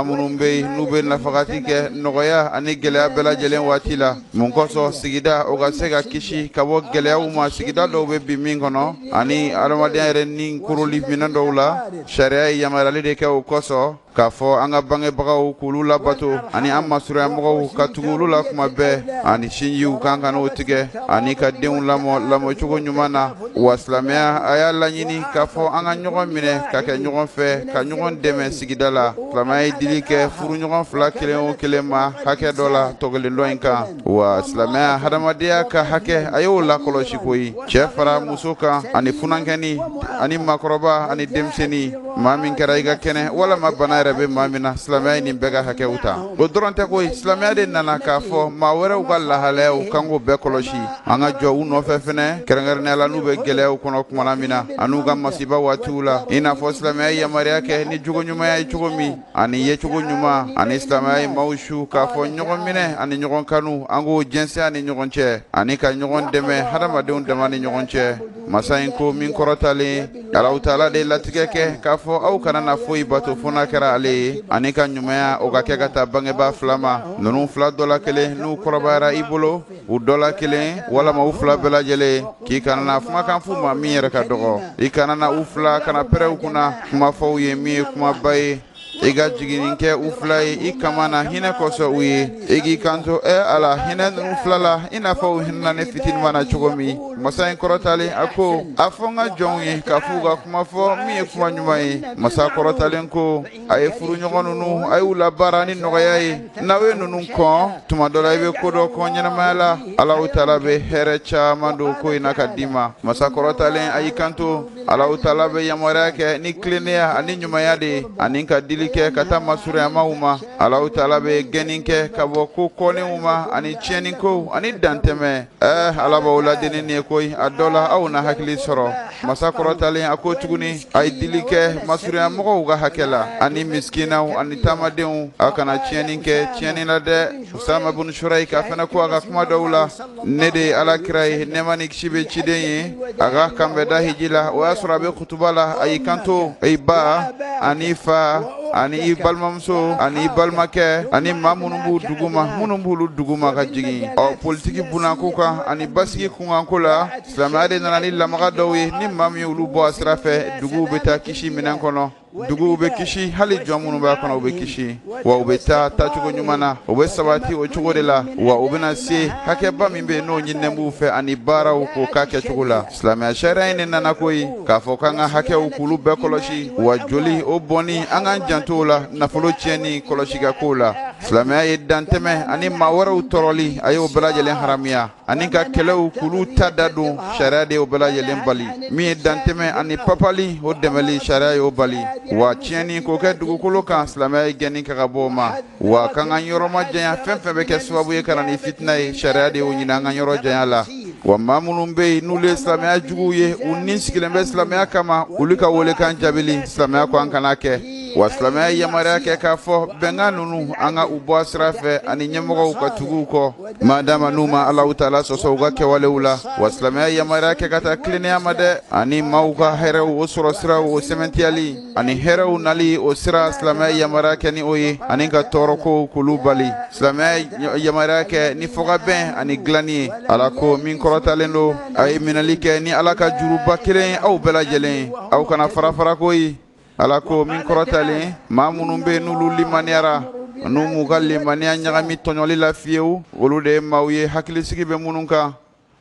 minnu bɛ yen n'u bɛ nafagati kɛ nɔgɔya ani gɛlɛya bɛɛ lajɛlen waati la mun kosɔn sigida o ka se ka kisi ka bɔ gɛlɛyaw ma sigida dɔw bɛ bin min kɔnɔ ani adamadenya yɛrɛ ni koroli minɛn dɔw la sariya ye yamaruyali de kɛ o kosɔn k'a fɔ an ka bangebagaw k'olu labato ani an masuruyamɔgɔw ka tugu olu la kuma bɛɛ ani sinjiw k'an kan'o tigɛ ani ka denw lamɔ lamɔcogo ɲuman na wa silamɛya a y'a laɲini k'a fɔ an ka ɲɔgɔn minɛ ka kɛ ɲɔgɔn fɛ ka ɲɔgɔn dɛmɛ sigida la silamɛya ye dili kɛ furuɲɔgɔn fila kelen o kelen ma hakɛ dɔ la tɔ kelen dɔ in kan wa silamɛya hadamadenya ka hakɛ a y'o lakɔlɔsi koyi cɛ fara muso kan ani funankɛni ani makɔrɔba ani denmisɛnni maa min kɛra i ka kɛnɛ walama bana yɛrɛ bɛ maa min na silamɛya ye nin bɛɛ ka hakɛw ta o dɔrɔn tɛ koyi silamɛya de nana k'a fɔ maa wɛrɛw ka lahalayaw k'an k'o bɛɛ kɔlɔsi an ka jɔ u nɔfɛ fɛnɛ kɛrɛnkɛrɛnnenya la n'u bɛ gɛlɛyaw kɔnɔ kumana min na an'u ka masiba waatiw la i n'a fɔ silamɛya ye yamaruya kɛ ni jogo ɲumanya ye cogo min ani yecogo ɲuman ani silamɛya ye maaw su k'a fɔ ɲɔgɔn minɛ ani ɲɔgɔn kanu an k'o jɛnsɛn an ni ɲɔgɔn cɛ ani ka ɲɔgɔn dɛmɛ hadamadenw dama ni ɲɔgɔn cɛ masa in ko min kɔrɔtalen alaw taala de latigɛ kɛ k'a fɔ aw kana na foyi bato fo n'a kɛra ale ye ani ka ɲumanya o ka kɛ ka taa bangebaa fila ma ninnu fila dɔ la kelen n'u kɔrɔbayara i bolo u dɔ la kelen walama u fila bɛɛ lajɛlen k'i kana na kumakan f'u ma min yɛrɛ ka dɔgɔ i kana na u fila kana pɛrɛn u kunna kuma fɔ u ye min ye kumaba ye i ka jiginni kɛ u fila ye i kaman na hinɛ kosɔn u ye i k'i kanto ɛ ala hinɛ ninnu fila la i n'a fɔ u hinɛna ne fitinima na cogo min masa in kɔrɔtalen a ko a fɔ n ka jɔnw ye k'a f'u ka kuma fɔ min ye kuma ɲuman ye masa kɔrɔtalen ko a ye furuɲɔgɔn ninnu a y'u labaara ni nɔgɔya ye n'aw ye ninnu kɔn tuma dɔ la i bɛ ko dɔ kɔn ɲɛnamaya la alaw taala bɛ hɛrɛ caman don ko in na ka d'i ma masa kɔrɔtalen a y'i kanto alaw taala bɛ yamaruya kɛ ni tilennenya ani ɲumanya de ye ani ka dili kɛ ka taa masuruyamaw ma alaw taala bɛ gɛnni kɛ ka bɔ ko kɔnnenw ma ani tiɲɛnikow ani dantɛmɛ ɛɛ ala b'aw laadi ni nin ye koyi a dɔ la aw na hakili sɔrɔ Masa kɔrɔtalen a ko tuguni a ye dili kɛ masurunya mɔgɔw ka hakɛ la ani misikinaw ani taamadenw a kana tiɲɛni kɛ tiɲɛni na dɛ usama bunu surayika fana ko a ka kuma dɔw la ne de ye ala kira ye nɛɛma ni kisi bɛ ciden ye a ka kanbɛnda hiji la o y'a sɔrɔ a bɛ kutuba la a y'i kanto i ba ani i fa ani i balimamuso ani i balimakɛ ani maa minnu b'u duguma minnu b'olu duguma ka jigin ɔ politigi bulonko kan ani basigi kunkanko la silamɛya de nana ni lamaga dɔw ye ni maa min olu bɔ a sira fɛ duguw bɛ taa kisi minɛn kɔnɔ duguw bɛ kisi hali jɔn minnu b'a kɔnɔ u bɛ kisi wa u bɛ taa taacogo ɲuman na u bɛ sabati o cogo de la wa u bɛna se hakɛba min bɛ yen n'o ɲininen b'u fɛ ani baaraw k'o k'a kɛcogo la silamɛya sariya in de nana ko ye k'a fɔ k'an ka hakɛw k'olu bɛɛ kɔlɔsi wa joli o bɔnni an k'an janto o la nafolo tiɲɛni kɔlɔsi ka k'o la silamɛya ye dantɛmɛ ani maa wɛrɛw tɔɔrɔli a y'o bɛɛ lajɛlen haramuya ani ka kɛlɛw k'olu ta da don sariya de y'o bɛɛ lajɛlen bali min ye dantɛmɛ ani papali o dɛmɛli sariya y'o bali wa tiɲɛni k'o kɛ dugukolo kan silamɛya ye gɛnni kɛ ka bɔ o ma wa k'an k'an yɔrɔ majanya fɛn fɛn bɛ kɛ sababu ye ka na ni fitina ye sariya de y'o ɲini an k'an yɔrɔ janya la wa maa minnu bɛ yen n'olu ye silamɛya juguw ye u ni sigilen bɛ silamɛya kama olu ka welekan jaabili silamɛya ko an kan'a kɛ wa silamɛya ye yamaruya kɛ k'a fɔ bɛnkan ninnu an ka u bɔ a sira fɛ ani ɲɛmɔgɔw ka tugu u kɔ Madama n'u ma Alahu taala sɔsɔ u ka kɛwalew la, wa silamɛya yamaruya kɛ ka taa tilennenya ma dɛ, ani maaw ka hɛrɛw o sɔrɔ siraw o sɛmɛntiyali ani hɛrɛw nali o sira silamɛya yamaruya kɛ ni o ye, ani ka tɔɔrɔkow k'olu bali, silamɛya yamaruya kɛ ni fɔkabɛn ani dilanni ye, Ala ko min kɔrɔtalen don, a ye minɛli kɛ ni Ala ka juruba kelen ye aw bɛɛ lajɛlen, aw kana fara-fara koyi. ala ko min kɔrɔtalen maa minnu bɛ n'olu limaniyara n'u m'u ka limaniya ɲagami tɔɲɔli la fiyewu olu de ye maaw ye hakilisigi bɛ minnu kan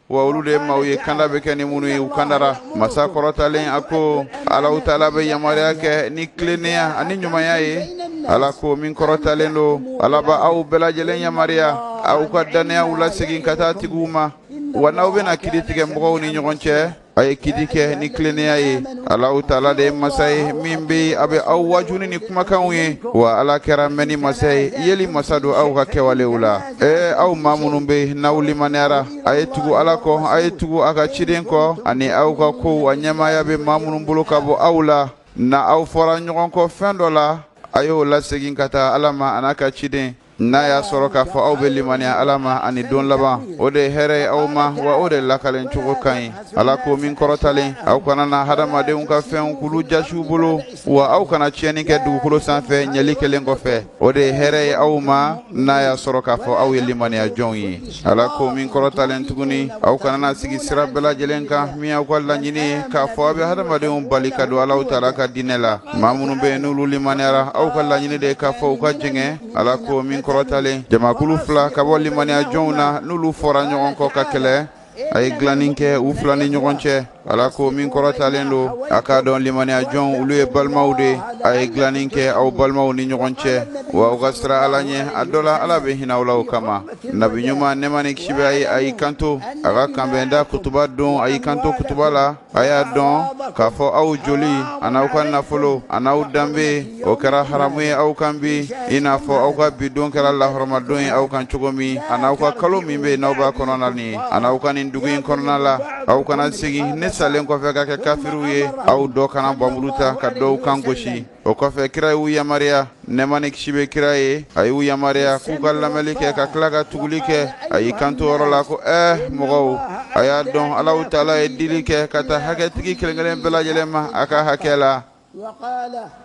wa olu de ye maaw ye kanda bɛ kɛ ni minnu ye u kandara masa kɔrɔtalen a ko alahu taala bɛ yamaruya kɛ ni tilennenya ani ɲumanya ye ala ko min kɔrɔtalen don ala bɛ aw bɛɛ lajɛlen yamaruya aw ka dannayaw lasegin ka taa tigiw ma wa n'aw bɛna kiri tigɛ mɔgɔw ni ɲɔgɔn cɛ a ye kiti kɛ ni tilennenya ye alahu taala de ye masa ye min be a be aw waaju ni nin kumakanw ye wa ala kɛra mɛnni masa ye yeli masa don aw ka kɛwalew la ee aw maa minnu be n'aw limaniyara a ye tugu ala kɔ a ye tugu a ka ciden kɔ ani aw ka kow a ɲɛmaaya be maa minnu bolo ka bɔ aw la ni aw fɔra ɲɔgɔn kɔ fɛn dɔ la a y'o lasegin ka taa ala ma an'a ka ciden N'a y'a sɔrɔ k'a fɔ aw bɛ limaniya Ala ma ani don laban, o de ye hɛrɛ ye aw ma, wa o de lakalen cogo ka ɲi. Ala ko min kɔrɔtalen, aw kana na hadamadenw ka fɛnw k'olu jasi u bolo, wa aw kana tiɲɛni kɛ dugukolo san fɛ ɲɛli kɛlen kɔfɛ. O de ye hɛrɛ ye aw ma, n'a y'a sɔrɔ k'a fɔ aw ye limaniyajɔnw ye. Ala ko min kɔrɔtalen tuguni aw kana na sigi sira bɛɛ lajɛlen kan min aw ka laɲini ye k'a fɔ aw bɛ hadamadenw bali ka don alahu taala ka diinɛ la maa minnu bɛ yen n'olu limaniyara aw ka laɲini de k'a fɔ u ka jɛngɛ ala ko min kɔrɔtalen jamakulu fila ka bɔ limaniyajɔnw na n'olu fɔra ɲɔgɔn kɔ ka kɛlɛ a ye dilanni kɛ u fila ni ɲɔgɔn cɛ Ala ko min kɔrɔtalen don a k'a dɔn limaniya jɔnw olu ye balimaw de ye a ye dilanni kɛ aw balimaw ni ɲɔgɔn cɛ wa aw ka siran ala ɲɛ a dɔ la ala bɛ hinɛ aw la o kama nabi ɲuman nɛɛma ni kisi bɛ a ye a y'i kanto a ka kanbɛnda kutuba don a y'i kanto kutuba la a y'a dɔn k'a fɔ aw joli a n'aw ka nafolo a n'aw danbe o kɛra haramu ye aw kan bi i n'a fɔ aw ka bi don kɛra lahɔrɔma don ye aw kan cogo min a n'aw ka kalo min bɛ n'aw b'a kɔnɔna nin a n'aw ka nin dugu in kɔnɔna la aw kana segin ne salen kɔfɛ ka kɛ kafiriw ye aw dɔ kana npanmuru ta ka dɔw kan gosi o kɔfɛ kira y'u yamariya nɛɛma ni kisi bɛ kira ye a y'u yamariya k'u ka lamɛnli kɛ ka tila ka tuguli kɛ a y'i kanto yɔrɔ la ko ɛɛ mɔgɔw a y'a dɔn alahu taala ye dili kɛ ka taa hakɛtigi kelen-kelen bɛɛ lajɛlen ma a ka hakɛ la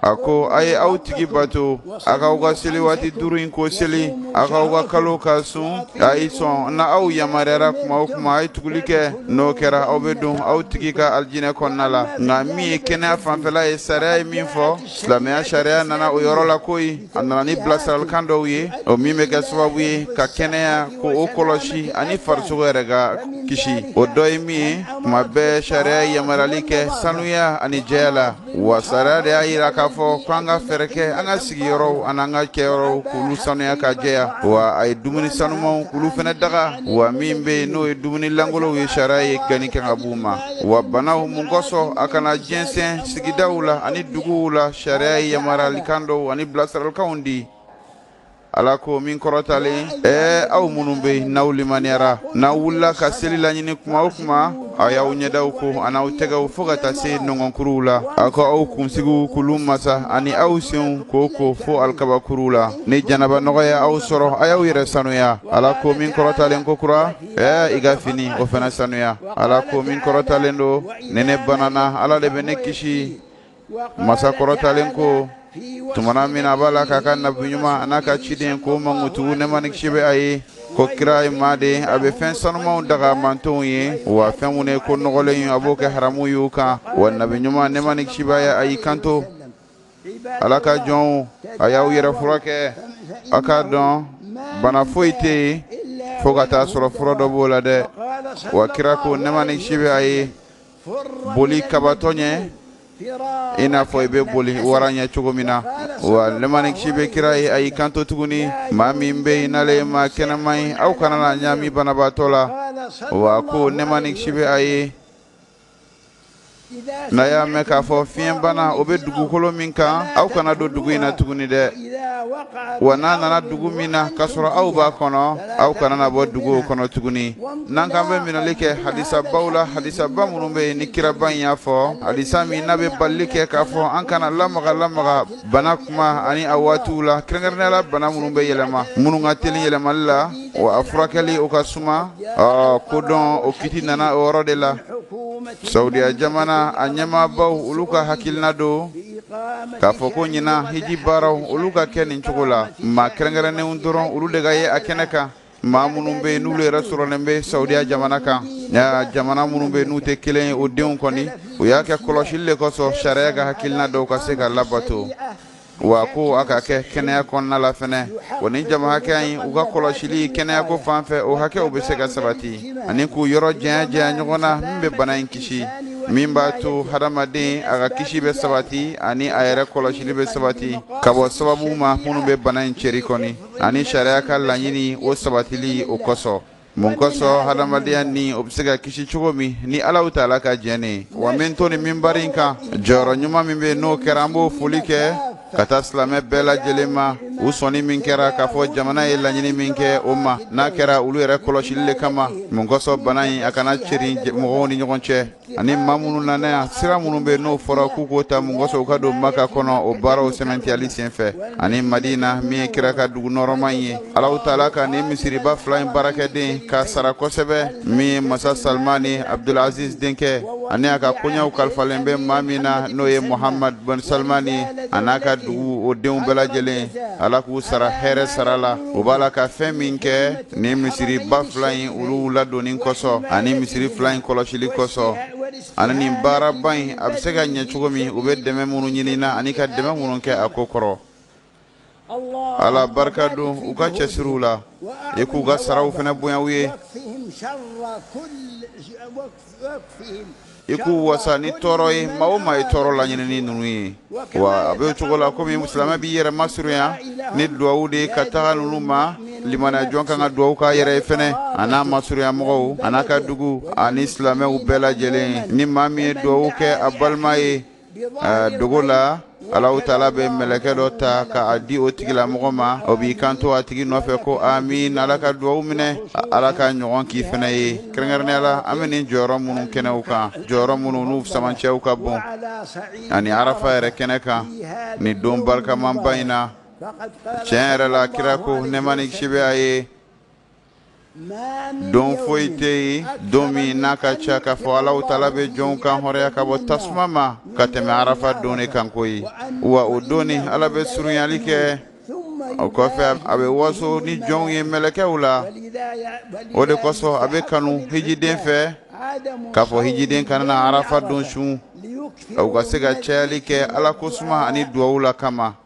a ko a ye aw tigi bato a k'aw ka seli waati duuru in ko seli a k'aw ka kalo ka sun a ye sɔn n'aw yamaruyara tuma o tuma a ye tuguli kɛ n'o kɛra aw bɛ don aw tigi ka alijinɛ kɔnɔna la nka min ye kɛnɛya fanfɛla ye sariya ye min fɔ silamɛya sariya nana o yɔrɔ la ko a nana ni bilasiralikan dɔw ye o min bɛ kɛ sababu ye ka kɛnɛya ko o kɔlɔsi ani farisogo yɛrɛ ka kisi o dɔ ye min ye tuma bɛɛ sariya ye yamaruyali kɛ sanuya ani jɛya la wa sariya de y'a jira k'a fɔ ko an ka fɛɛrɛ kɛ an ka sigiyɔrɔw an'an ka kɛyɔrɔw k'olu sanuya ka jɛya wa a ye dumuni sanumanw k'olu fana daga wa min bɛ yen n'o ye dumuni lankolonw ye sariya ye kɔnni kɛ ka b'u ma wa banaw mun kosɔn a kana jɛnsɛn sigidaw la ani duguw la sariya ye yamaruyalikan dɔw ani bilasiralikanw di ala ko min kɔrɔtalen ɛɛ aw minnu bɛ yen n'aw limaniyara n'aw wulila ka seli laɲini kuma o kuma aw y'aw ɲɛdaw ko an'aw tɛgɛw fo ka taa se nɔngɔnkuruw la aw ka aw kunsigiw k'olu masa ani aw senw k'o ko fo alikabakuruw la ni janaba nɔgɔ ye aw sɔrɔ a y'aw yɛrɛ sanuya ala ko min kɔrɔtalen kokura Ɛɛ i ka fini o fana sanuya ala ko min kɔrɔtalen don ni ne banana ala de bɛ ne kisi masa kɔrɔtalen ko tuma min na a b'a la k'a ka nabi ɲuman a n'a ka ciden ko mankutu nɛɛma ni kisi bɛ a ye ko kira ye maden a bɛ fɛn sanumanw daga mantonw ye wa fɛn minnu ye ko nɔgɔlen ye a b'o kɛ haramu y'u kan wa nabi ɲuman nɛɛma ni kisi b'a ye a y'i kanto ala ka jɔnw a y'aw yɛrɛ furakɛ a k'a dɔn bana foyi tɛ yen fo ka taa sɔrɔ fura dɔ b'o la dɛ wa kira ko nɛɛma ni kisi bɛ a ye boli kabatɔ ɲɛ i n'a fɔ i bɛ boli wara ɲɛ cogo min na wa nɛɛma ni kisi bɛ kira ye a y'i kanto tuguni maa min bɛ yen n'ale ye maa kɛnɛman ye aw kana n'a ɲaami banabaatɔ la wa ko nɛɛma ni kisi bɛ a ye N'a y'a mɛn k'a fɔ fiɲɛbana o bɛ dugukolo min kan aw kana don dugu in na tuguni dɛ wa n'a nana dugu min na k'a sɔrɔ aw b'a kɔnɔ aw kana bɔ dugu kɔnɔ tuguni n'an k'an bɛ minɛli kɛ hadisabaw la hadisaba minnu bɛ yen ni kiraba in y'a fɔ hadisa min n'a bɛ balili kɛ k'a fɔ an kana lamagalamaga bana kuma ani a waatiw la kɛrɛnkɛrɛnnenya la bana minnu bɛ yɛlɛma minnu ka teli yɛlɛmali la wa a furakɛli o ka suma ɔ ko dɔn o kiti nana o yɔrɔ de la saudiya jamana a ɲɛmaabaw olu ka hakilina don k'a fɔ ko ɲinan hiji baaraw olu ka kɛ nin cogo la maa kɛrɛnkɛrɛnnenw dɔrɔn olu de ka ye a kɛnɛ kan maa minnu bɛ yen n'olu yɛrɛ sɔrɔlen bɛ saudiya jamana kan nka jamana minnu bɛ yen n'u tɛ kelen ye o denw kɔni u y'a kɛ kɔlɔsili de kosɔn sariya ka hakilina dɔw ka se ka labato wa ko a ka kɛ kɛnɛya kɔnɔna la fana o ni jama hakɛya in u ka kɔlɔsili kɛnɛyako fan fɛ o hakɛw bɛ se ka sabati ani k'u yɔrɔ janya janya ɲɔgɔn na min bɛ bana in kisi min b'a to hadamaden a ka kisi bɛ sabati ani a yɛrɛ kɔlɔsili bɛ sabati ka bɔ sababu ma minnu bɛ bana in ceri kɔni ani sariya ka laɲini o sabatili o kosɔn Mun kosɔn hadamadenya ni o bɛ se ka kisi cogo min ni alaw taala ka jɛn ye wa min to nin minbari kan jɔyɔrɔ ɲuman min bɛ n'o kɛra an b'o foli kɛ ka taa silamɛ bɛɛ lajɛlen ma u sɔnni min kɛra k'a fɔ jamana ye laɲini min kɛ o ma n'a kɛra olu yɛrɛ kɔlɔsili de kama mun kosɔn bana in a kana ceri mɔgɔw ni ɲɔgɔn cɛ ani maa minnu nana yan sira minnu bɛ n'o fɔra k'u k'o ta mun kosɔn u ka don maka kɔnɔ o baaraw sɛmɛntiyali senfɛ ani madina min ye kira ka dugu nɔɔrɔman ye alaw taala ka nin misiriba fila in baarakɛden k'a sara kosɛbɛ min ye masa salmani abdulaziz denkɛ ani a ka koɲɛw kalifalen bɛ maa min na n'o ye muhamad bɛn salmani a n'a ka dugu o denw bɛɛ lajɛlen ala k'u sara hɛrɛ sara la u b'a la ka fɛn min kɛ ni misiriba fila in olu ladonni kosɔn ani misiri fila in kɔlɔsili kosɔn ani nin baaraba in a bɛ se ka ɲɛ cogo min u bɛ dɛmɛ minnu ɲini na ani ka dɛmɛ minnu kɛ a ko kɔrɔ ala barika don u ka cɛsiriw la i k'u ka saraw fana bonya u ye i k'u wasa ni tɔɔrɔ ye maa o maa ye tɔɔrɔ laɲinini ninnu ye wa a bɛ cogo la komi silamɛ b'i yɛrɛ masurunya ni duwawu de ye ka taga ninnu ma limaniya jɔn ka kan ka duwawu k'a yɛrɛ ye fɛnɛ a n'a masurunya mɔgɔw a n'a ka dugu ani silamɛw bɛɛ lajɛlen ni maa min ye duwawu kɛ a balima ye dogo la alaw taala bɛ mɛlɛkɛ dɔ ta k'a di o tigila mɔgɔ ma o b'i kan to a tigi nɔfɛ ko amiin ala ka duwaw minɛ ala k'a ɲɔgɔn k'i fana ye kɛrɛnkɛrɛnnenya la an bɛ nin jɔyɔrɔ minnu kɛnɛw kan jɔyɔrɔ minnu n'u sama cɛw ka bon ani arafa yɛrɛ kɛnɛ kan ni don barikamanba in na tiɲɛ yɛrɛ la kira ko nɛɛma ni kisi b'a ye don foyi tɛ yen don min n'a ka ca k'a fɔ alahu taala bɛ jɔnw kanhɔrɔnya ka bɔ tasuma ma ka tɛmɛ arafa don de kan koyi wa o don ni ala bɛ surunyali kɛ o kɔfɛ a bɛ waso ni jɔnw ye mɛlɛkɛw la o de kosɔn a bɛ kanu hijiden fɛ k'a fɔ hijiden kana na arafa don sun u ka se ka cayali kɛ ala ko suma ani duwawuw la kama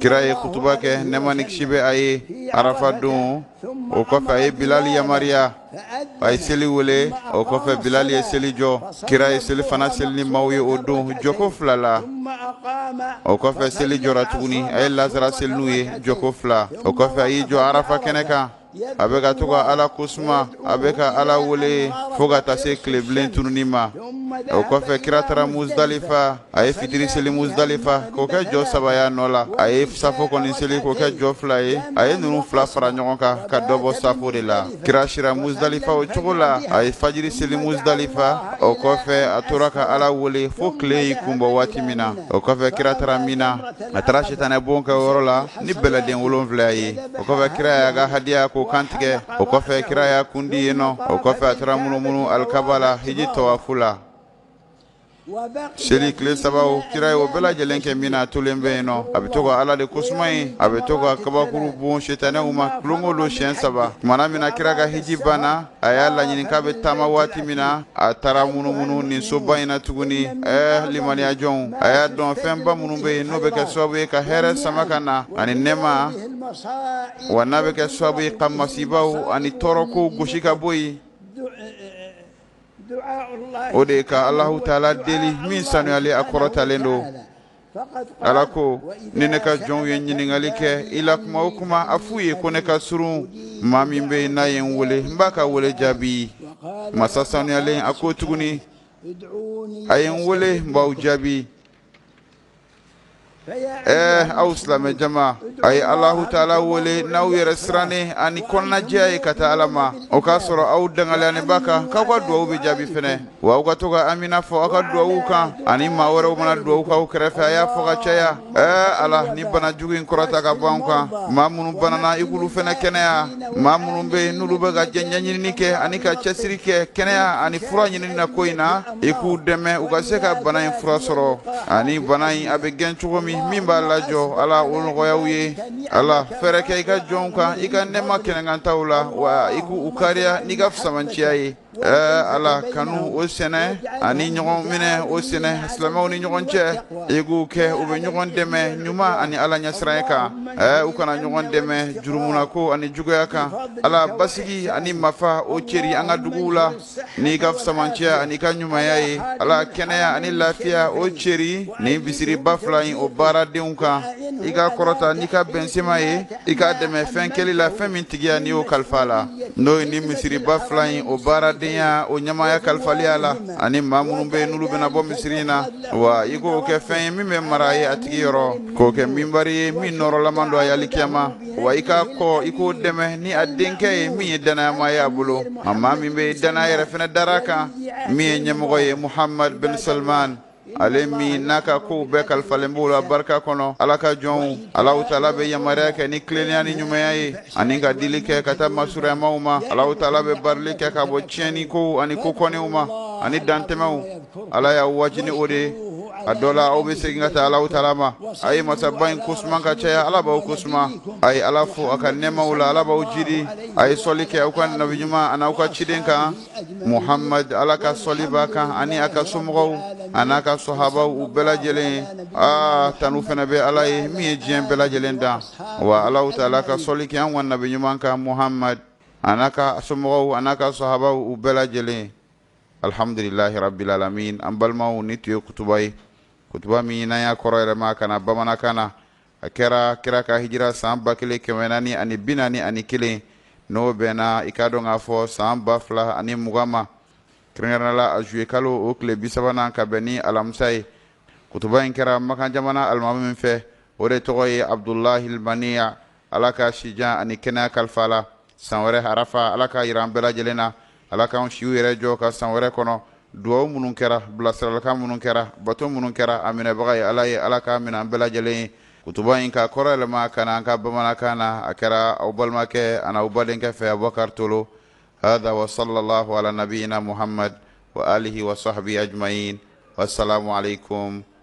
kira ye kutuba kɛ nɛɛma ni kisi bɛ a ye arafa don o kɔfɛ a ye bilali yamariya a ye seli wele o kɔfɛ bilali ye seli jɔ kira ye selifana seli ni maaw ye o don jɔko fila la o kɔfɛ seli jɔra tuguni a ye lazara seli n'u ye jɔko fila o kɔfɛ a y'i jɔ arafa kɛnɛ kan a bɛ ka to ka ala ko suma a bɛ ka ala wele fo ka taa se tilebilen tununi ma o kɔfɛ kira taara musdalifa a ye fitiri seli musdalifa k'o kɛ jɔ saba y'a nɔ la a ye safo kɔni seli k'o kɛ jɔ fila ye a ye ninnu fila fara ɲɔgɔn kan ka dɔ bɔ safo de la kira sira musdalifa o cogo la a ye fajiri seli musdalifa o kɔfɛ a tora ka ala wele fo tile y'i kunbɔ waati min na o kɔfɛ kira taara mina a taara sitanɛ bon kɛ yɔrɔ la ni bɛlɛden wolonfila ye o kɔfɛ kira y'a ka hadiya ko kantigɛ o kɔfɛ kira y'a kun di yen nɔ o kɔfɛ a taara munumunu alikaba la hiji tawafu la seli tile saba kira ye o bɛɛ lajɛlen kɛ mina a tolen bɛ yen nɔ a bɛ to ka ala de kosuma ye a bɛ to ka kabakuru bon sitanɛw ma don go don siɲɛ saba tumana min na kira ka hiji banna a y'a laɲini k'a bɛ taama waati min na a taara munumunu nin soba in na tuguni ɛɛ limaniyajɔnw a y'a dɔn fɛnba minnu bɛ yen n'o bɛ kɛ sababu ye ka hɛrɛ sama ka na ani nɛɛma wa n'a bɛ kɛ sababu ye ka masibaw ani tɔɔrɔkow gosi ka bɔ yen o de ye ka alahu taala deli min sanuyalen a kɔrɔtalen don ala ko ni ne ka jɔnw ye ɲininkali kɛ i la kuma o kuma a f'u ye ko ne ka surun maa min bɛ yen n'a ye n wele n b'a ka wele jaabi masa sanuyalen a ko tuguni a ye n wele n b'aw jaabi ɛɛ aw silamɛ jama a ye alahu taala wele n'aw yɛrɛ sirannen ani kɔnɔnajɛya ye ka taa ala ma o k'a sɔrɔ aw dangaleyalen b'a kan k'aw ka duwawu bɛ jaabi fɛnɛ Wa aw ka to ka Amina fɔ aw ka duwawuw kan ani maa wɛrɛw mana duwawu kɛ aw kɛrɛfɛ a y'a fɔ ka caya ɛɛ Ala nin bana jugu in kɔrɔta ka bɔ an kan maa minnu banana i k'olu fana kɛnɛya maa minnu bɛ yen n'olu bɛ ka jɛ ɲɛɲinini kɛ ani ka cɛsiri kɛ kɛnɛya ani fura ɲinini na ko in na i k'u dɛmɛ u ka se ka bana in fura sɔrɔ ani bana in a bɛ gɛn cogo min min b'a lajɔ Ala o nɔgɔya u ye Ala fɛɛrɛ kɛ i ka jɔnw kan i ka nɛɛma kɛnɛkantaw la wa i k'u kariya n'i ka fusamanciya ye Ɛɛ ala kanu o sɛnɛ ani ɲɔgɔn minɛ o sɛnɛ silamɛw ni ɲɔgɔn cɛ i k'u kɛ u bɛ ɲɔgɔn dɛmɛ ɲuman ani ala ɲɛsiranya kan u kana ɲɔgɔn dɛmɛ jurumu ko ani juguya kan ala basigi ani marifa o cɛri an ka duguw la n'i ka fisamancɛya ani i ka ɲumanya ye ala kɛnɛya ani lafiya o cɛri ni misiriba fila in o baaradenw kan i k'a kɔrɔta n'i ka bɛnsenma ye i k'a dɛmɛ fɛn kɛli la fɛn min tigiya n'i y'o kalifa la n'o ye ni misiriba fila in o baaradenya o ɲamaya kalifaliya la ani maa minnu bɛ n'olu bɛna bɔ misiri in na wa i k'o kɛ fɛn ye min bɛ mara a ye a tigi yɔrɔ k'o kɛ minbari ye min nɔrɔlaman don a yali kiyama wa i k'a kɔ i k'o dɛmɛ ni a denkɛ ye min ye dannayama ye a bolo a maa min bɛɛ dannaya yɛrɛ fana dar'a kan min ye ɲɛmɔgɔ ye muhamadu bin salman ale min n'a ka kow bɛɛ kalifalen b'o la barika kɔnɔ ala ka jɔnw alaw taala bɛ yamaruya kɛ ni tilennenya ni ɲumanya ye ani ka dili kɛ ka taa masuruyamaw ma alaw taala bɛ barili kɛ ka bɔ tiɲɛni kow ani ko kɔnnenw ma ani dantɛmɛw ala y'aw waaju ni o de ye a dɔ la aw bɛ segin ka taa alaw taala ma a ye masaba in kosuma ka caya ala b'aw kosuma a ye ala fo a ka nɛɛmaw la ala b'aw jidi a ye sɔli kɛ aw ka nabi ɲuman an'aw ka ciden kan Muhamadu ala ka sɔli b'a kan ani a ka somɔgɔw an'a ka sahabaw u bɛɛ lajɛlen ye aa tanu fana bɛ ala ye min ye diɲɛ bɛɛ lajɛlen dan wa ala taala ka sɔli kɛ anw ka nabi ɲuman kan muhamadu an'a ka somɔgɔw an'a ka sahabaw u bɛɛ lajɛlen alihamdulilahi rabili alamin an balimaw nin tun ye kutuba ye kutuba min n'an y'a kɔrɔ yɛrɛma ka na bamanankan na a kɛra kira ka hijira san ba kelen kɛmɛ naani ani bi naani ani kelen n'o bɛnna i k'a dɔn k'a fɔ san ba fila ani mugan ma kɛrɛnkɛrɛnnenya la a zuye kalo o tile bi sabanan ka bɛn ni alamisa ye kutuba in kɛra makan jamana alimami min fɛ o de tɔgɔ ye abudulahi alimaniya ala ka sijan ani kɛnɛya kalifa a la san wɛrɛ harafa ala k'a yira an bɛɛ lajɛlen na Ala k'an siw yɛrɛ jɔ ka san wɛrɛ kɔnɔ dugawu minnu kɛra bilasiralikan minnu kɛra bato minnu kɛra a minɛbaga ye ala ye ala k'a minɛ an bɛɛ lajɛlen ye kutuba in k'a kɔrɔ yɛlɛma ka na an ka bamanankan na a kɛra aw balimakɛ ani aw badenkɛ fɛ abubakari tolo hada wa salalahu ala nabina muhamadu wa alihi wa sahabihi ajimayin wasalamu alayikum